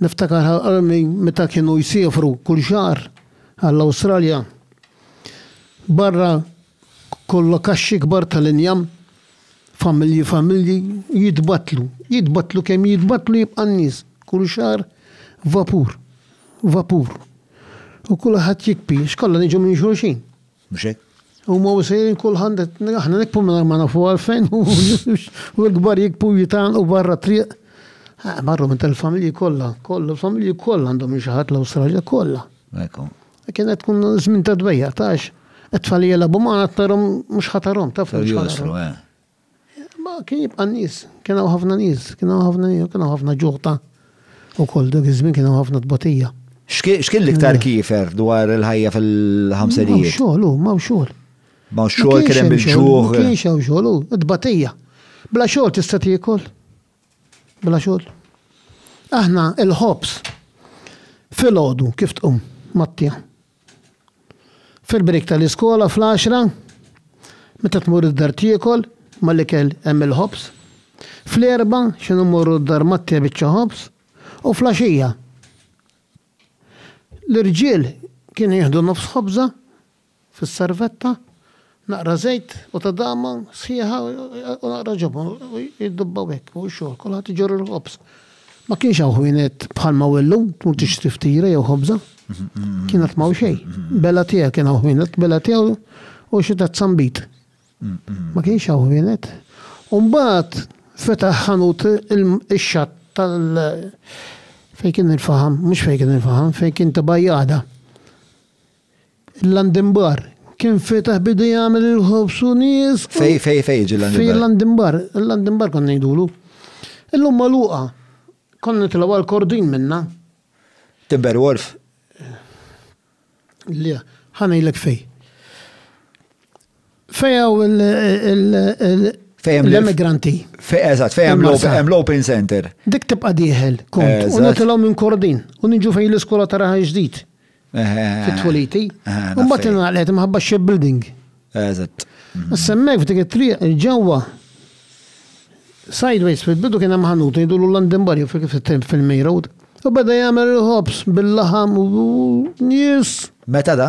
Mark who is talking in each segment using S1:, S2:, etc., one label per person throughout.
S1: Niftakar ħalqarni meta kienu jsiefru kull xahar għall-Awstralja. Barra kollha kaxxi kbar tal-injam, familji familji jitbattlu, jitbattlu kemm jitbattlu jibqa' n-nies, kull xahar vapur, vapur. U kulħadd jikbi, x'kollha niġu minn xulxin. Mhux
S2: hekk? Huma u sejrin
S1: kulħadd qed aħna nikbu mingħajr ma nafu għalfejn u l-kbar jikbu jitgħanqu barra t-triq. Eh, marru minn tal-familji kollha, kollha, l-familji kollha għandhom xi ħadd l-Awstralja kollha. Ekku. E
S2: kien qed tkun
S1: żmien ta' dbejja tax. Qed tfalija labu ma qed tarhom mhux ħatarhom taf. Josru, eh. Ma kien jibqa' n-nies, kien hawn ħafna nies, kien hawn ħafna nies, kien hawn ħafna ġuħ ta' ukoll dak iż-żmien kien hawn ħafna tbatija. X'kien l-iktar
S2: kiefer dwar il-ħajja fil-ħamsinijiet? M'hawnx xogħol hu, m'hawnx xogħol.
S1: M'hawnx xogħol
S2: kien hemm il-ġuħ. Ma kienx hawn xogħol hu,
S1: it-tbatija. Bla xogħol tista' tiekol? Bla xogħol. Aħna l-ħobż filgħodu kif tqum mat-tja. Fil-break tal-iskola fl-għaxra, meta tmur id-dar tiekol, mal-ikel hemm il-ħobż. Fl-erbgħa x'inhu mmorru d-dar mat-te biċċa ħobż u fl-għaxija. L-irġiel kienu jieħdu nofs ħobża fis-servetta. Naqra żejt u tadama sħiħa u naqra ġobon u jiddubbaw hekk fuq ix-xogħol, kulħadd iġorr il-ħobż. Ma kienx hawn ħwienet bħalma hu llum tmur tixtri ftira jew ħobża. Kien qatt m'hawn xejn. Bela tiegħek kien hawn ħwienet, bela tiegħu u xi tazz sambit. Ma kienx hawn ħwienet. U mbagħad fetaħ ħanut ix-xatt tal fejn kien il-faħam, mhux fejn kien il-faħam, fejn kien tibajjada. Il-Landinbar. Kien fetaħ bidu jagħmel il-ħobż u nies. Fej, fej, fej ġi
S2: l-Landinbar? Fej l-Landinbar,
S1: l-Landinbar konna ngħidulu. Illum magħluqa. Konna nitilgħu għal Kordin minna. Timber
S2: Wolf?
S1: Le, ħa ngħidlek fej. Fejaw l-emigranti. Eżatt, fejaw
S2: hemm l-open center. Dik tibqa' dieħel,
S1: kont. U nagħtilhom minn Kordin u niġu fejn l-iskola ta' Raħal Ġdid. Fit-Tweliti. U mbagħad ingħalqet imħabba x-shipbuilding. Eżatt.
S2: Issa hemmhekk
S1: f'dik it-triq ġewwa sideways fil-bidu kien hemm ħanut jgħidulu London Barrio fil-main road. U beda jagħmel il-ħobż bil-laħam u nies. Meta da?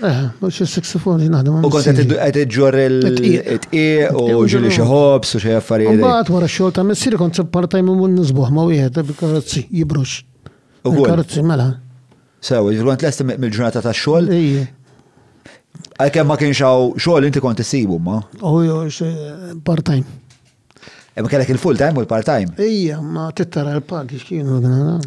S2: Eh, mux
S1: il-saxofon li naħdem. U kont għed
S2: ġor il-tqiq u ġili xieħobs u xie affarijiet. Mbagħad wara xogħol ta' messiri
S1: kont part-time u mun nisbuħ ma' wieħed bil-karozzi jibrux. U karozzi mela. Sew, kont
S2: lest mill-ġurnata ta' xogħol. Għalkemm ma kienx hawn xogħol inti kont issibu ma. U
S1: part-time.
S2: Imma e, kellek il-full time u l-part time. Ija, ma tittara
S1: l-pagi x'kienu għana.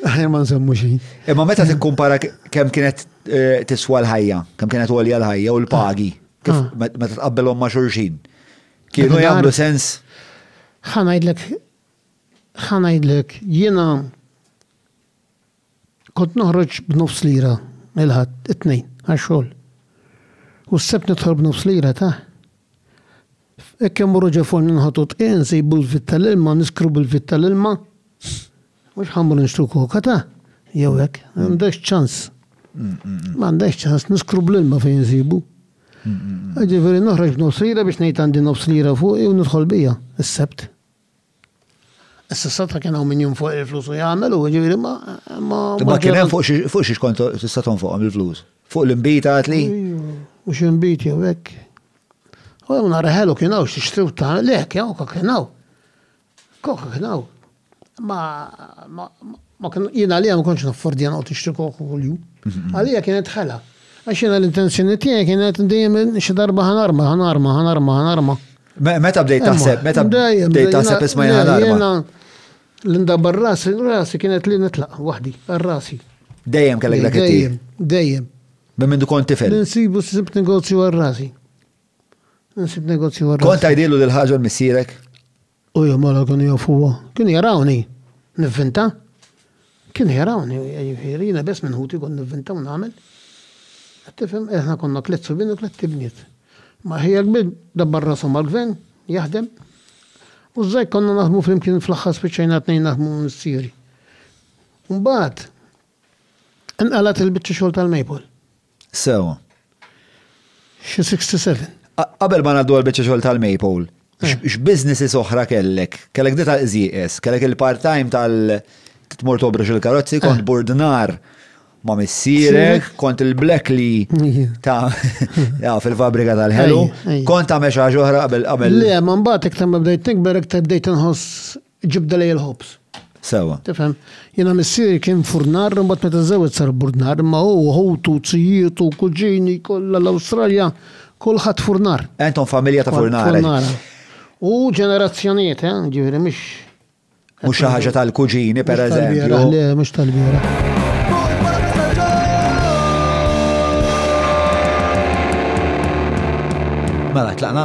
S1: Ħajja ma nsemmu xi. Imma meta tikkumpara
S2: kemm kienet eh, tiswa l-ħajja, kemm kienet għolja l-ħajja u l-pagi, kif ah. meta tqabbelhom ma' xulxin. Kienu jagħmlu sens. Ħanajdlek ħanajdlek jiena Kont noħroġ b'nofs lira il-Ħadd, it-Tnejn, għax-xogħol. U s-Sebt nidħol b'nofs lira ta'. Hekk kemm morru ġo forn inħotu dqiq, insejbu l-vit tal-ilma, niskru bil-vit tal-ilma. Mhux ħa mmur nixtru koka ta' jew hekk, m'għandekx ċans. M'għandekx ċans, niskru bl-ilma fejn insibu. Ġifieri noħroġ b'nofs lira biex ngħid għandi nofs lira fuqi u nidħol bija, is-Sebt. Issa sata kien hawn min jinfoq il-flus u jagħmel u ġifieri ma ma. Ma kien hemm fuq xi kont tista' tonfoqhom il-flus. Fuq l-imbita għad li. U xi
S1: mbit jew hekk. U hemm nhar ħelu kien hawn xi xtriw ta' le kien kok kien hawn. Kok kien hawn. Ma ma kien jien għalija ma kontx naffordja noqgħod nixtri kok kuljum. Mhm. Għalija kienet ħela. Għax jiena l-intenzjoni tiegħi kienet dejjem xi darba ħanarma, ħanarma, ħanarma, ħanarma. Meta
S2: bdejt taħseb, meta bdejt taħseb isma jena. Linda
S1: barrasi, rasi kienet li nitlaq wahdi, rasi. Dejjem kellek dak
S2: Dejjem, dejjem.
S1: Minn minn kont
S2: tifel. Nsibu sib negozju
S1: għarrasi. Nsib negozju għarrasi. Kont għajdilu l-ħagġa
S2: missirek? U jom
S1: għala kun jofuwa. Kun jarawni, nivvinta. Kien ħerawni, jiġifieri, jiena biss minn ħuti kont nivvinta u nagħmel. Qed tifhem? Eh, aħna konna tliet subien u tliet ibniet. Ma ħija kbir dabbar rasu mal-gvern, jaħdem. U żgħir konna naħdmu flimkien fl-aħħar spiċċajna t-tnejn naħdmu missieri. Mbagħad inqalgħet il-biċċa xogħol tal-maple. Sew. Xi 67. Qabel ma ngħaddu
S3: għall-biċċa xogħol tal-Maple, eh. x'businesses oħra kellek? Kellek dita żieqes, kellek il-part-time tal- tmur tobrux il-karozzi, kont eh. burdnar ma missirek, kont il-black li ta' fil-fabrika tal-ħelu, kont ta' meċa ġoħra qabel qabel. Le, ma mbagħad iktar
S1: ma bdejt nikber iktar bdejt inħoss Ġibda lejn il-ħobż. Sewa. Tifhem?
S3: Jiena
S1: missieri kien furnar, imbagħad meta żewwed sar burdnar, imma hu ħutu, tzijietu, kuġini kollha l-Awstralja, kulħadd furnar. Entom familja ta' furnara.
S3: Furnara. U
S1: ġenerazzjonijiet, eh, ġifieri mhux. Mhux xi
S3: ħaġa tal-kuġini pereżempju. Le, mhux
S1: tal-bieraħ.
S3: Mela, tlaqna.